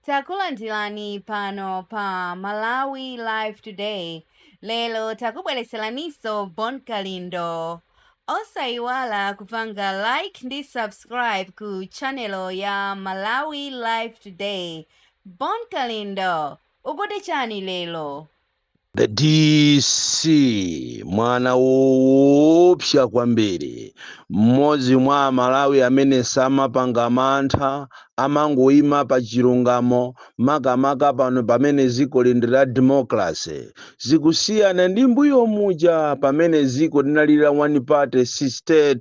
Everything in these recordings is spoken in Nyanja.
Takulandirani pano pa Malawi Live Today. Lero takubweretseraniso Bon Kalindo. Osayiwala kupanga like ndi subscribe ku channel ya Malawi Live Today. Bon Kalindo, ukuti chiyani lero? The DC mwana woopsa kwambiri, mmodzi mwa Amalawi amene samapanga mantha, amangoima pa chilungamo makamaka pano pamene dzikoli ndi la democracy. Zikusiyana ndi mbuyo muja pamene dziko linali la one party system.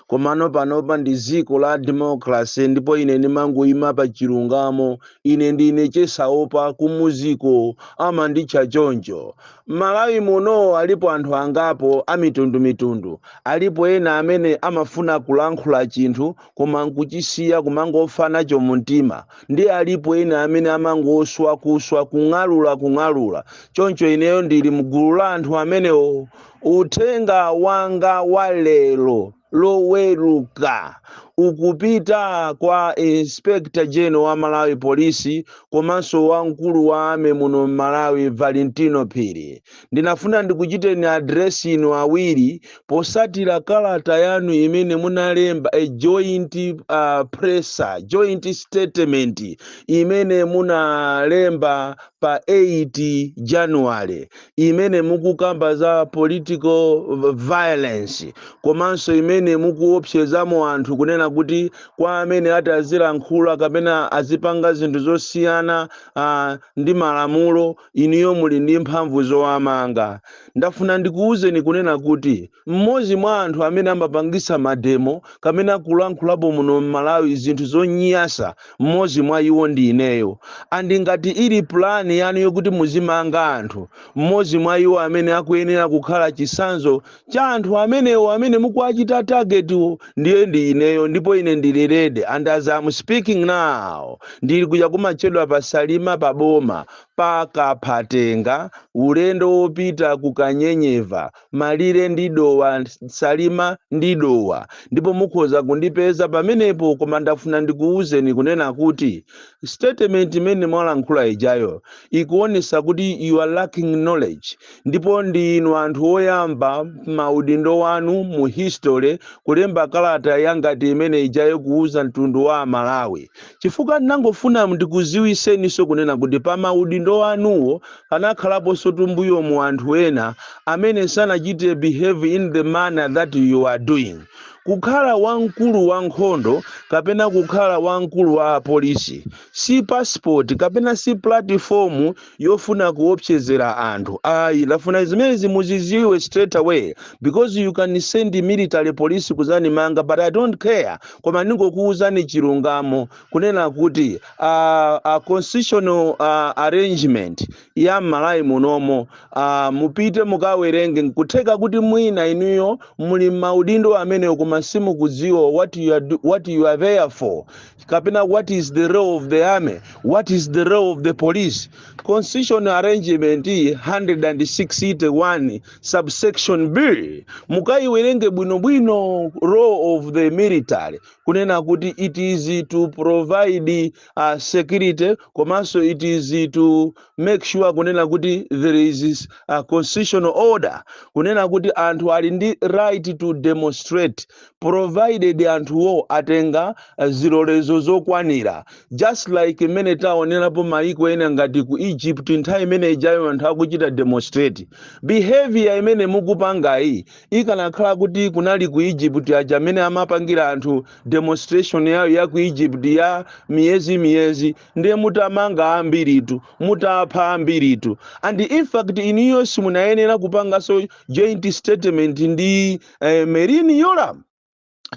Komano panopa ndi dziko la democracy ndipo ine ndimangoima pa chilungamo Ine ndine Chesaopa kumuziko amanditcha choncho. M'Malawi muno alipo anthu angapo amitundumitundu. Alipo ena amene amafuna kulankhula chinthu koma n'kuchisiya kumangofa nacho mumtima. Ndiye alipo ena amene amangoswa kuswa, kung'alula kung'alula. Choncho ineyo ndili m'gulu la anthu amenewo. Uthenga wanga wa lero. loweruka ukupita kwa inspector general wa malawi police komanso wamkulu wa army muno mmalawi valentino phiri ndinafuna ndikuchiteni address inu awiri posatira kalata yanu imene munalemba a joint uh, presser joint statement imene munalemba pa 8 january imene mukukamba za political v- violence komanso imene mukuopsezamo anthu kunena kuti kwa amene ati azilankhula kapena azipanga zinthu zosiyana uh, ndi malamulo inuyo muli ndi mphamvu zowamanga ndafuna ndikuwuzeni kunena kuti mmodzi mwa anthu amene amapangitsa mademo kapena kulankhulapo muno mmalawi zinthu zonyasa mmodzi mwa iwo ndi ineyo and ngati ili plan yanu yokuti muzimanga anthu mmodzi mwa iwo amene akuyenera kukhala chitsanzo cha anthu amenewo amene mukuwachita targetwo ndiye ndi ineyo ndipo ine ndili ready and as I'm speaking now ndili kuja kumatchedwa pa salima pa boma pa kaphatenga ulendo wopita ku kanyenyeva malire ndi dowa salima ndi dowa ndipo mukhoza kundipeza pamenepo koma ndafuna ndikuwuzeni kunena kuti statement imene mwalankhula ijayo ikuonesa kuti you are lacking knowledge ndipo ndi inu anthu oyamba maudindo wanu mu history kulemba kalata yangati imene ijayo kuwuza mtundu wa amalawi chifukwa ndinangofuna ndikuziwiseninso kunena kuti pa ma udindo anuwo anakhalaponsotu mbuyomu anthu ena amene sanachite behave in the manner that you are doing. Kukhala wa mkulu wa nkhondo kapena kukhala wa mkulu wa apolisi si passport kapena si platform yofuna kuopsezera anthu ayi ndafuna zimenezi muziziwe straight away because you can send military police kuzanimanga but i don't care koma ndingokuwuzani chilungamo kunena kuti uh, uh, constitutional uh, arrangement ya m'Malawi munomo uh, mupite mukawerenge nkutheka kuti mwina inuyo muli m'maudindo amenewo koma simukudziwa what you are, do- what you are there for kapena what is the role of the army what is the role of the police constitution arrangement 161 subsection b mukayiwerenge bwinobwino role of the military kunena kuti it is to provide uh, security komanso it is to make sure kunena kuti there is a constitutional order kunena kuti anthu ali ndi right to demonstrate provided anthuwo atenga zilolezo zokwanira just like mmene taonerapo maiko ena ngati ku egypt nthawi imene ijayo anthu akuchita demonstrate behavior imene mukupangayi ikanakhala kuti kunali ku egypt aja mmene amapangira anthu demonstration yawo ya ku egypt ya miyezi miyezi ndiye mutamanga ambiritu mutapha ambiritu and in fact inuyo simunayenera kupanganso joint statement ndi eh, Merlyne Yolamu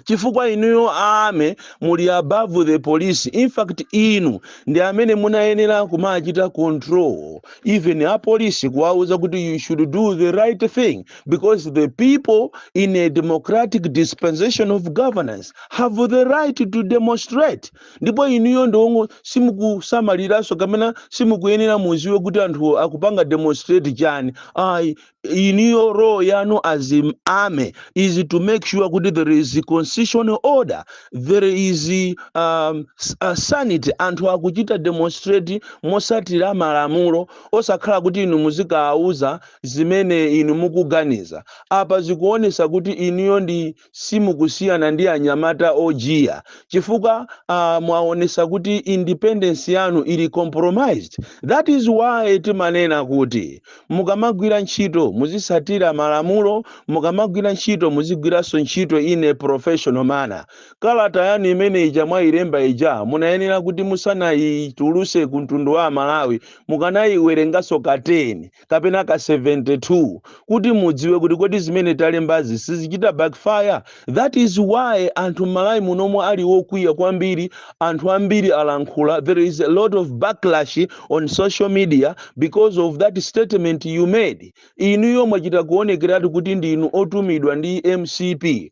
chifukwa inuyo army muli above the police in fact inu ndi amene munayenera kumachita control even apolisi kuwauza kuti you should do the right thing because the people in a democratic dispensation of governance have the right to demonstrate ndipo inuyo ndiyenso simukusamaliranso kapena simukuyenera muziwe kuti anthu akupanga demonstrate chani ayi inuyo role yanu as army is to make sure kuti there is constitutional order there is um, s- uh, sanity anthu akuchita demonstrate mosatira malamulo osakhala kuti inu muzikawauza zimene inu mukuganiza apa zikuonesa kuti inuyo ndi simukusiyana ndi anyamata ojiya chifukwa uh, mwaonesa kuti independence yanu ili compromised that is why timanena kuti mukamagwira ntchito muzisatira malamulo mukamagwira ntchito muzigwiranso ntchito in a professional manner kalata yanu imene ija mwayilemba ija munayenera kuti musanayituluse ku mtundu wa amalawi mukanayiwerenganso ka 10 kapena ka 72 kuti mudziwe kuti kodi zimene talembazi sizichita backfire that is why anthu mmalawi munomo ali okwiya kwambiri anthu ambiri alankhula there is a lot of backlash on social media because of that statement you made inuyo mwachita kuonekeratu kuti ndinu otumidwa ndi mcp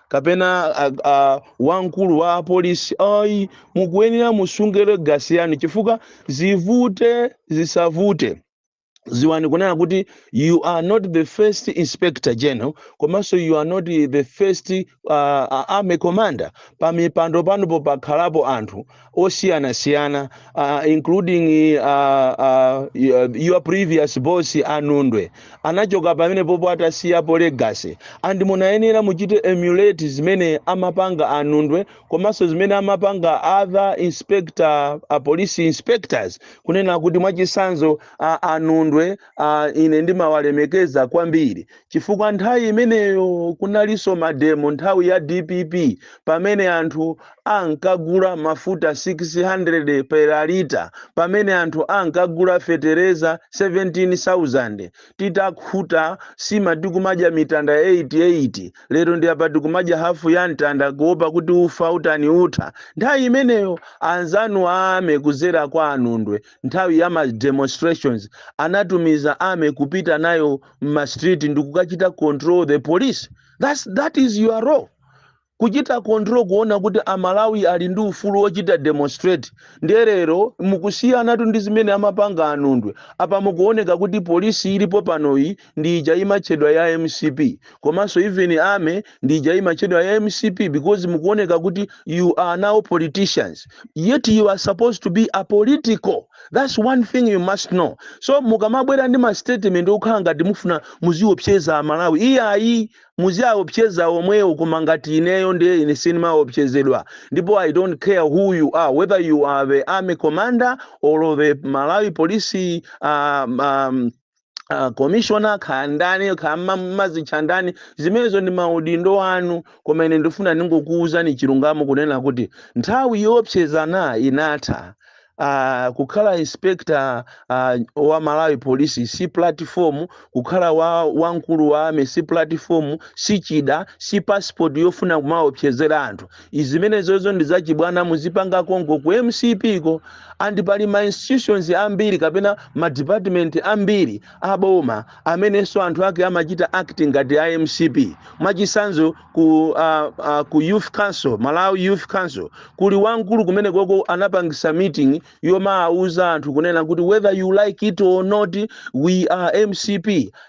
kapena a, a, wamkulu wa polisi ayi mukuyenera musunge legacy yanu chifukwa zivute zisavute ziwani kunena kuti you are not the first inspector general komanso you are not the first uh, army commander pa mipando panupo pakhalapo anthu osiyanasiyana uh, including uh, uh, your previous boss anundwe anachoka pamene popo atasiyapo legacy and munayenera kuti muchite emulate zimene amapanga anundwe komanso zimene amapanga other inspector uh, police inspectors kunena kuti mwachisanzo uh, anundwe uh, ine ndimawalemekeza kwambiri chifukwa nthawi imeneyo kunalinso mademo nthawi ya dpp pamene anthu ankagula mafuta 600 per liter pamene anthu ankagula fetereza 17000 titakhuta sima tikumadya mitanda 88 lero ndi apa tikumadya hafu ya mtanda kuopa kuti ufa utani utha nthawi imeneyo anzanu a army kudzera kwa anundwe nthawi ya ma demonstrations anatumiza army kupita nayo mma street ndi kukachita control the police That's, that is your role kuchita control kuona kuti amalawi ali ndi ufulu wochita demonstrate ndiye lero mukusiyanatu ndi zimene amapanga anundwe apa mukuoneka kuti polisi ilipo panoyi ndi ija imatchedwa ya mcp komanso even army ndi ija imatchedwa ya mcp because mukuoneka kuti you are now politicians yet you are supposed to be apolitical that's one thing you must know so mukamabwera ndi ma statement okhala ngati mufuna muziopseza amalawi iyayi muziaopseza omwewo koma ngati ineyo ndiye ine sindimaopsezedwa ndipo i don't care who you are whether you are the army commander or the malawi police um, um, Uh, commissioner kaya ndani kaya ma- mumazitcha ndani zimenezo ndi maudindo anu koma ine ndifuna ndingokuwuzani chilungamo kunena kuti nthawi yoopsezana inatha Uh, kukhala inspector uh, wa malawi police si platform kukhala wa wamkulu wa army si platform si chida si passport yofuna kumaopsezera anthu zimenezozo ndi zachibwana muzipanga konko ku mcp ko and pali ma institutions ambiri kapena ma department ambiri aboma amenenso anthu ake amachita act ngati a mcp mwachisanzo ku, uh, uh, ku youth council malawi youth council kuli wamkulu kumene koko anapangisa meeting yomawuza anthu kunena kuti whether you like it or not we are mcp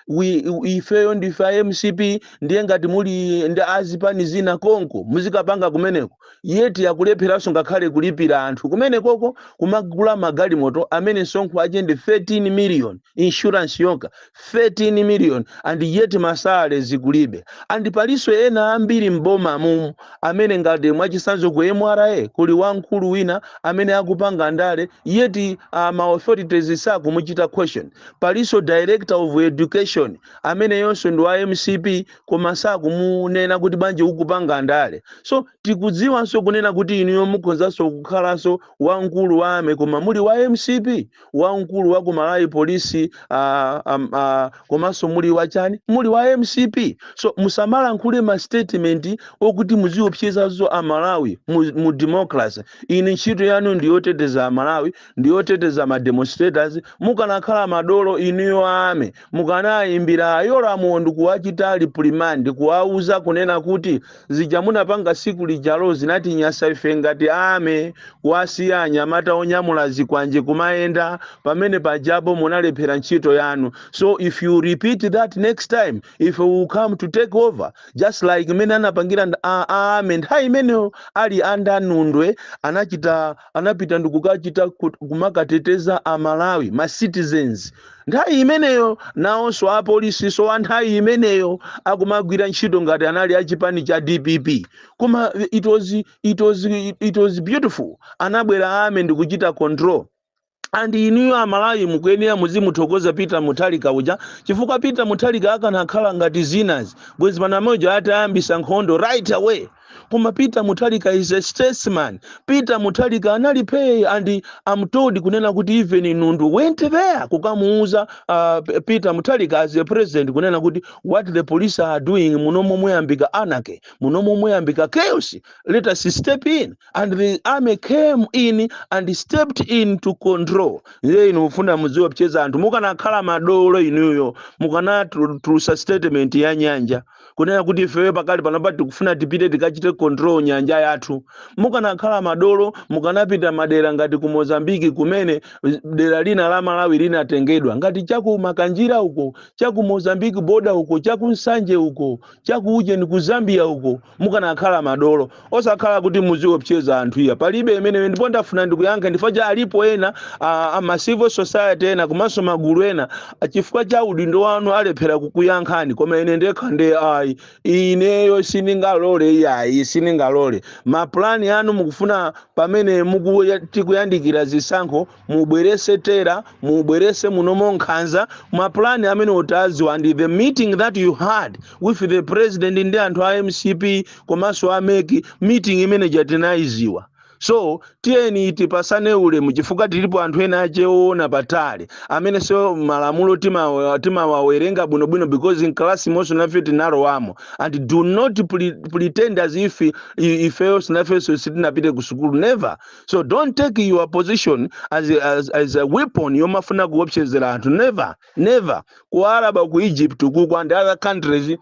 we, ifeyo ndife a mcp ndiye ngati muli ndi azipani zina konko muzikapanga kumeneko yeti akulepheranso ngakhale kulipira anthu kumenekoko kumagula magalimoto amene msonkho ache ndi 13 million insurance yokha 13 million and yet ma salaries kulibe and paliso ena ambiri mboma mumu amene ngati mwachisanzo ku MRA kuli wamkulu wina amene akupanga ndale yet uh, ma authorities sakumuchita question palinso director of education amene iyenso ndi wa MCP koma sakumunena kuti bwanji ukupanga ndale so tikudziwanso kunena kuti inuyo mukhozanso kukhalanso wamkulu wa army koma muli wa MCP wamkulu wa ku malawi polisi ah, am- ah, komanso muli wachani muli wa mcp so musamalankhule ma statement okuti muziopseza nazo amalawi mu, mu democracy ino ntchito yanu ndi yoteteza amalawi ndi yoteteza ma demonstrators mukanakhala madolo inuyo army mukanawayimbira a Yolamuwo ndi kuwachita reprimand kuwauza kunena kuti zija munapanga tsiku lijalo zinatinyasa ife ngati army kuwasiya anyamata onyamula zikwanje kumayenda pamene pajapo munalephera ntchito yanu so if you repeat that next time ife we will come to take over just like mene anapangira nd- a- a- army nthawi imeneyo ali ndi a Nundwe anachita anapita ndikukachita kumakateteza a Malawi ma citizens nthawi imeneyo nawonso apolisinso a nthawi imeneyo akumagwira ntchito ngati anali a chipani cha dpp koma it was, it was, it was beautiful anabwera army ndikuchita control and inuyo amalawi mukuyenera muzimuthokoza peter muthalika uja chifukwa peter muthalika akanakhala ngati zinazake bwezi panopo atayambisa nkhondo right away koma peter muthalika is a statesman peter muthalika anali phee and i'm told kunena kuti even nundwe went there kukamuuza uh, peter muthalika as a president kunena kuti what the police are doing munomo muyambika anarchy munomo muyambika chaos let us step in and the army came in and stepped in to control ndiye inu mufuna mudziwaopseza anthu mukanakhala madolo inuyo mukanatulutsa statement ya nyanja kunena kuti ifeyo pakali panopa tikufuna tipite tikachite control nyanja yathu mukanakhala madolo mukanapita madera ngati ku mozambiki kumene dera lina la malawi linatengedwa ngati chaku makanjira uko chaku mozambiki boda uko chaku nsanje uko chaku ujeni ku zambia uko mukanakhala madolo osakhala kuti muziopseza anthu iya palibe imeneyo ndipo ndafuna ndikuyankha chifukwa cha alipo ena a, a ma civil society ena komanso magulu ena a, chifukwa cha udindo wanu alephera kukuyankhani koma ine ndekha nde ayi ineyo sindingalole iyayi sindingalole mapulani anu mukufuna pamene muku- tikuyandikira zisankho mubwerese terror mubwerese munomo nkhanza mapulani amenewo tawaziwa and the meeting that you had with the president ndi anthu a mcp komanso a MEC meeting imene ija tinayiziwa so tiyeni tipasane ulemu chifukwa tilipo anthu enaache oona patali amene so malamulo timawa- timawawerenga bwinobwino because in class monso nafe tinalowamo and do not pre- pretend as if i- ifeyonso nafenso sitinapite ku sukulu never so don't take your position as, as, as a weapon yomafuna kuopsezera anthu never never ku araba ku egypt kuku and other countries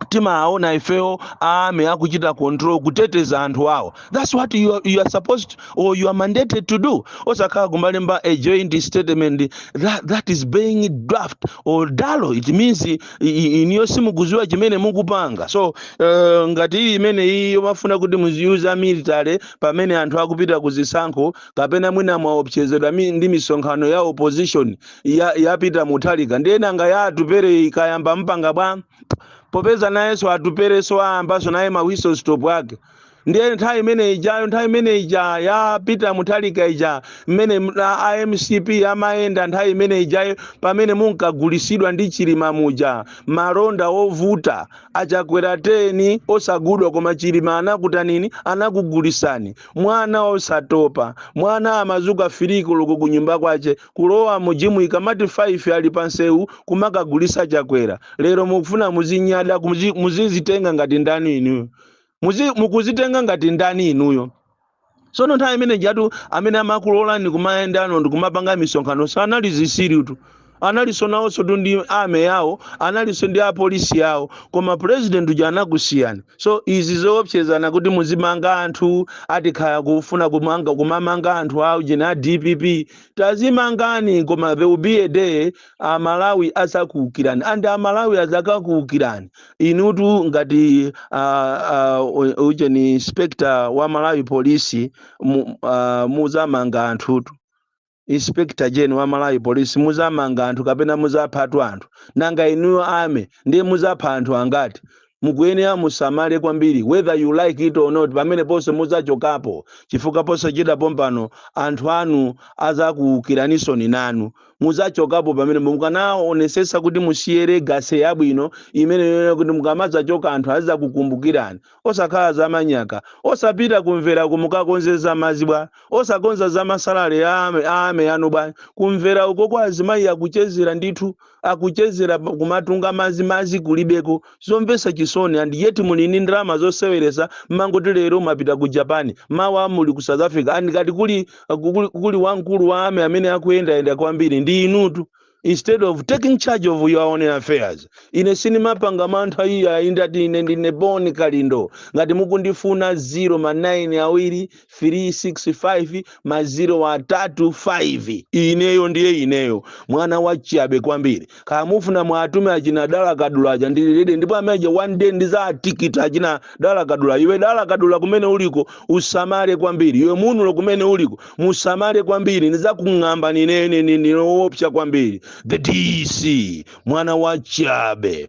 timaona ifeyo army akuchita control kuteteza anthu awo that's what you are, you are supposed to, or you are mandated to do osakhala kumalemba a joint statement that, that is being draft wodalo it means i- i- inuyo simukuziwa chimene mukupanga so uh, ngati ili imene iyi yomafuna kuti muziuza military pamene anthu akupita ku zisankho kapena mwina mwaopsezedwa mi- ndi misonkhano ya opposition ya, ya peter mutharika ndiye nanga ya atupele ikayamba mpanga bwa popeza nayenso atupelenso ayambanso naye ma whistle stop ake ndiye nthawi imene ijayo nthawi imene ija ya peter mutharika ija mmene m- a a mcp amayenda nthawi imene ijayo pamene munkagulisidwa ndi chilima muja malonda ovuta Achakwera 10 osagudwa koma chilima anakutanini anakugulisani mwana osatopa mwana amazuka 3 koloko kunyumba kwache kulowa mu gym ikamati 5 ali pa nsewu kumakagulisa chakwera lero mukufuna muzinyada muzi, muzizitenga ngati ndani inuyo muzi, mukuzitenga ngati ndani inuyo tsono nthawi imene ijatu amene amakulolani kumayendano ndikumapanga misonkhano sanali zitsirutu analinso nawonsotu ndi army yawo analinso ndi apolisi yawo koma president uja anakusiyani so izi zoopsezana kuti muzimanga anthu ati kaya kufuna kumanga kumamanga anthu aujeni a dpp tazimangani koma there will be a day amalawi azakuukirani and amalawi azakakuukirani inutu ngati uh, uh, ujeni inspector wa malawi police mu, uh, muzamanga anthutu inspector general wa malawi police muzamanga anthu kapena muzaphatu anthu nanga inuyo army ndiye muzapha anthu angati mukuyenera musamale kwambiri whether you like it or not pameneponso muzachokapo chifukwa posachedwa pompano anthu anu azakuukiraninso inunso muzachokapo pamene mukanaonesesa kuti musiye legacy yabwino imene yonena kuti mukamazachoka anthu azakukumbukirani osakhala zamanyaka osapita kumvera uko mukakonze zamazi bwa osakonza zamasalale a army anu bwa kumvera uko kwa azimayi akuchezera ndithu akuchezera kumatunga mazi mazi kulibeko zomvesa chisoni and yet muli ni ndalama zoseweresa mmangoti lero mwapita ku japan mawa muli ku south africa and ngati kuli, kuli, kuli wamkulu wa army amene akuyendayenda kwambiri ndi inutu instead of taking charge of your own affairs ine sinimapanga mantha iyayi ndati ine ndine Bon Kalindo ngati mukundifuna 0 ma 9 awiri 365 maziro atatu 5 ineyo ndiye ineyo mwana wachiyabe kwambiri kaya mufuna mwatume achina dala kadula aja ndili ready ndipo ameja one day ndizatikita achina dala kadula iwe dala kadula kumene uliko usamale kwambiri iwe munulo kumene uliko musamale kwambiri ndizakung'amba ndine ndili owopsa kwambiri the dc mwana wachiyabe